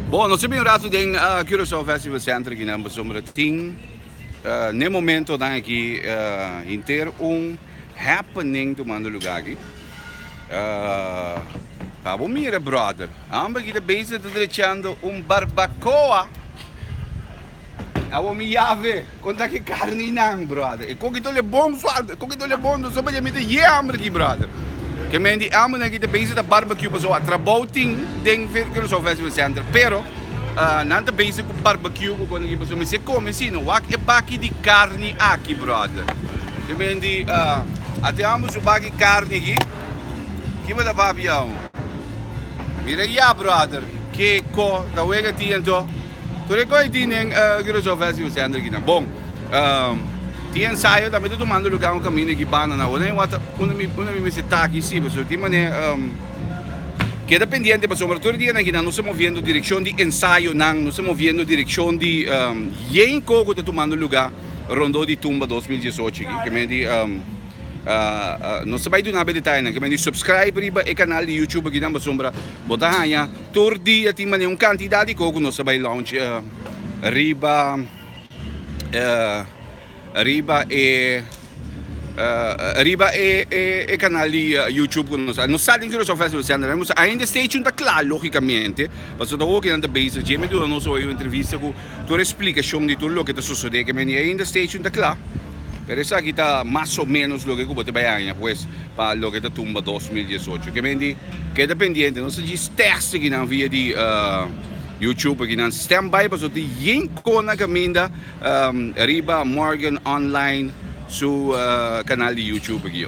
Bon, nos a bin un rato den Curaçao Festival Center akinan, pasobra tin, na e momento nan aki, henter un. happening tumando luga aki. Ahh, abo mira brother, homber aki ta bezig ta drechando un barbacoa. Abo mi yave, con taki carninan brother. E coki tole bon falta, e coki tole bon, so padia mi ta ye homber aki brother. Ke men di hombernan aki ta bezig ta barbecue paso a trabou tin den Curaçao Festival Center, pero ahh nan ta bezig cu barbecue cu con aki paso mi si a come si no wak e baki di carni aki brother. E men di, A te amo su baki karni aki? Ki bo ta papia aun? Mira e yap, bròder. Ke kò ta wega tien to? Tur e kò i tin den Girasof West Youth Center aki nan. Bon, tin ensayo tambe ta tumando lugá un kaminda aki banda na Awor. Unda mi mester ta aki si, pasobra tin manera, keda pendiente pasobra tur e dianan aki nan nos ta moviendo direkshon di ensayonan, nos ta moviendo direkshon di yen kò ku ta tumando lugá. Rondó di tumba dos mil diesocho aki ke men di no ta bai duna be detayenan ke men di subscribe riba e kanal di youtube aki nan pasobra bo ta haña tur dia tin manera un kantidat di kos ku nos ta bai launch riba riba e riba e kanal di youtube ku nos nos sa den Curaçao Festival Center nan nos ainda stay tune ta kla logikamente paso ta hopi nan ta base dje men duna nos hopi un entrevista ku Tur e splikashon di tur loke ta sosodé ke mende ainda station ta kla, pero esaki ta mas o menos loke ku bo ta bai haña pues pa loke ta tumba dos mil diesocho. Ke mende keda pendiente nos ta djis tèks di kinan via di YouTube pa kinan stem bai paso tin yen kona kaminda riba Morgan Online su kanal di YouTube aki.